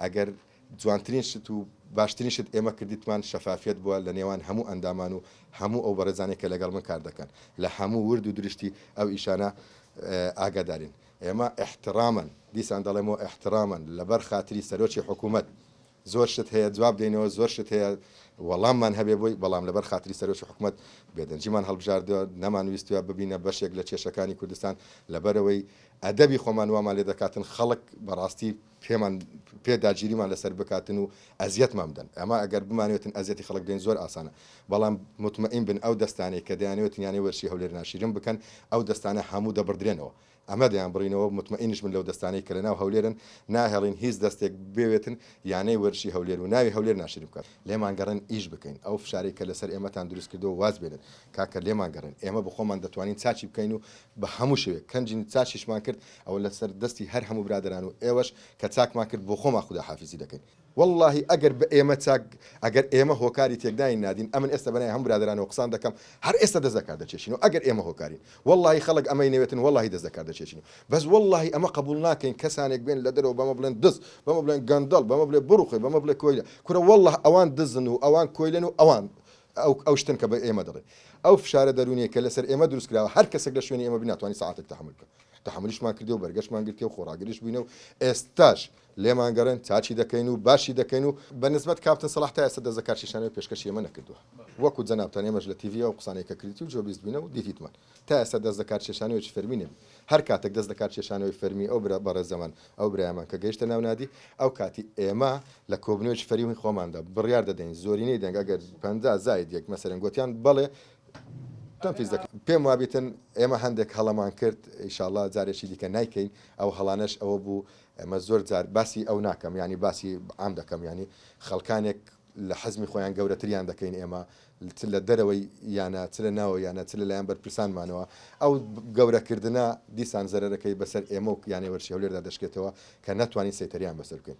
ئەگەر جوانترین شت و باشترین شت ئێمە کردیتمان شەفافیەت بووە لە نێوان هەموو ئەندامان و هەموو ئەو بەڕێزانەی کە لەگەڵ من کار دەکەن لە هەموو ورد و درشتی ئەو ئیشانە ئاگادارین ئێمە ئیحتڕامەن دیسان دەڵێمەوە ئیحتڕامەن لەبەر خاتری سەرۆکی حکوومەت زۆر شت هەیە جواب دەینەوە زۆر شت هەیە وەڵاممان هەبێ بۆی بەڵام لەبەر خاتری سەرۆکی حکوومەت بێدەنجیمان هەڵبژاردووە نەمان ویستوە ببینە بەشێک لە کێشەکانی کوردستان لەبەرەوەی ئەدەبی خۆمان وامان لێ دەکاتن خەڵک بەڕاستی پێمان پێ داگیریمان لەسەر بکاتن و ئەزیەتمان بدەن ئەما ئەگەر بمانوێتن ئەزیەتی خەڵک بدەین زۆر ئاسانە بەڵام متمئین بن ئەو دەستانەی کە دەیانەوێت یانەی وەرشی هەولێر ناشیرن بکەن ئەو دەستانە هەموو دەبڕدرێنەوە ئەمە دەیانبڕینەوە متمئینش بن لەو دەستانەی کە لەناو هەولێرن ناهێڵین هیچ دەستێک بێوێتن یانەی وەرشی هەولێر و ناوی هەولێر ناشیرن بکات لێمان گەڕێن ئیش بکەین ئەو فشارەی کە لەسەر ئێمەتان دروست کردووە واز بێنن کاکە لێمان گەڕێن ئێمە بەخۆمان دەتوانین چاکی بکەین و بە هەموو شێوەیەک کەنجین چاکیشمان کرد ئەوە لەسەر دەستی هەر هەموو برادەران و ئێوەش کە چاکمان کرد بۆ خۆمان خودا حافیزی دەکەین. وەڵاهی ئەگەر بە ئێمە چاک ئەگەر ئێمە هۆکاری تێکدانی نادین ئەمن ئێستا بەناوی هەموو برادەرانەوە قسان دەکەم هەر ئێستا دەست لەکار دەکێشین و ئەگەر ئێمە هۆکارین وەڵاهی خەڵک ئەمەی نەوێتن وەڵاهی دەست لەکار دەکێشین و بەس وەڵاهی ئەمە قبوڵ ناکەین کەسانێک بێن لە دەرەوە بەمە بڵێن دز بەمە بڵێن گەندەڵ بەمە بڵێ بڕوخێ بەمە بڵێ کۆیلە کورە وەڵاه ئەوان دزن و ئەوان کۆیلەن و ئەوان ئەو ئەو شتن کە بە ئێمە دەڵێن ئەو فشارە دەروونیە کە لەسەر ئێمە دروست کراوە هەر کەسێک لە شوێنی ئێمە بی ناتوانی سەعاتێک تەحەمول بکا. تەحەمولیشمان کردی و بەرگەشمان گرتیە و خۆڕاگریش بووینە و ئێستاش لێمان گەڕێن چاکی دەکەین و باشی دەکەین و بە نسبەت کاپتن سەڵاح تا ئێستا دەست لە کار کێشانەوە پێشکەشی ئێمە نەکردووە وەکو جەنابتان ئێمەش لە تیڤی ئەو قسانەی کە کردیت و جۆ بیست بووینە و دیتیتمان تا ئێستا دەست لە کار کێشانەوەیەکی فەرمی نەبوو هەر کاتێک دەست لە کار کێشانەوەی فەرمی ئەو برا بەڕێزەمان ئەو برایەمان کە گەیشتە ناو نادی ئەو کاتی ئێمە لە کۆبنەوەیەکی فەرمی خۆماندا بڕیار دەدەین زۆرینەی دەنگ ئەگەر پەنجا زائید یەک مەسەرەن گۆتیان بەڵێ پێم وابیتن ئێمە هەندێک هەڵەمان کرد ئیشاڵا جارێکی دیکە نایکەین ئەو هەڵانەش ئەوە بوو ئەمە زۆر جار باسی ئەو ناکەم ینی باسی عام دەکەم ینی خەڵکانێک لە حەزمی خۆیان گەورەتریان دەکەین ئێمە چ لە دەرەوەی یانە چ لە ناوە یانە چ لەلایەن بەرپرسانمانەوە ئەو گەورەکردە دیسان زەرەرەکەی بەسەر ئێمە و یانەی وەرشی هەولێردا دەشکێتەوە کە ناتوانین سەیتەریان بەسەر بکەین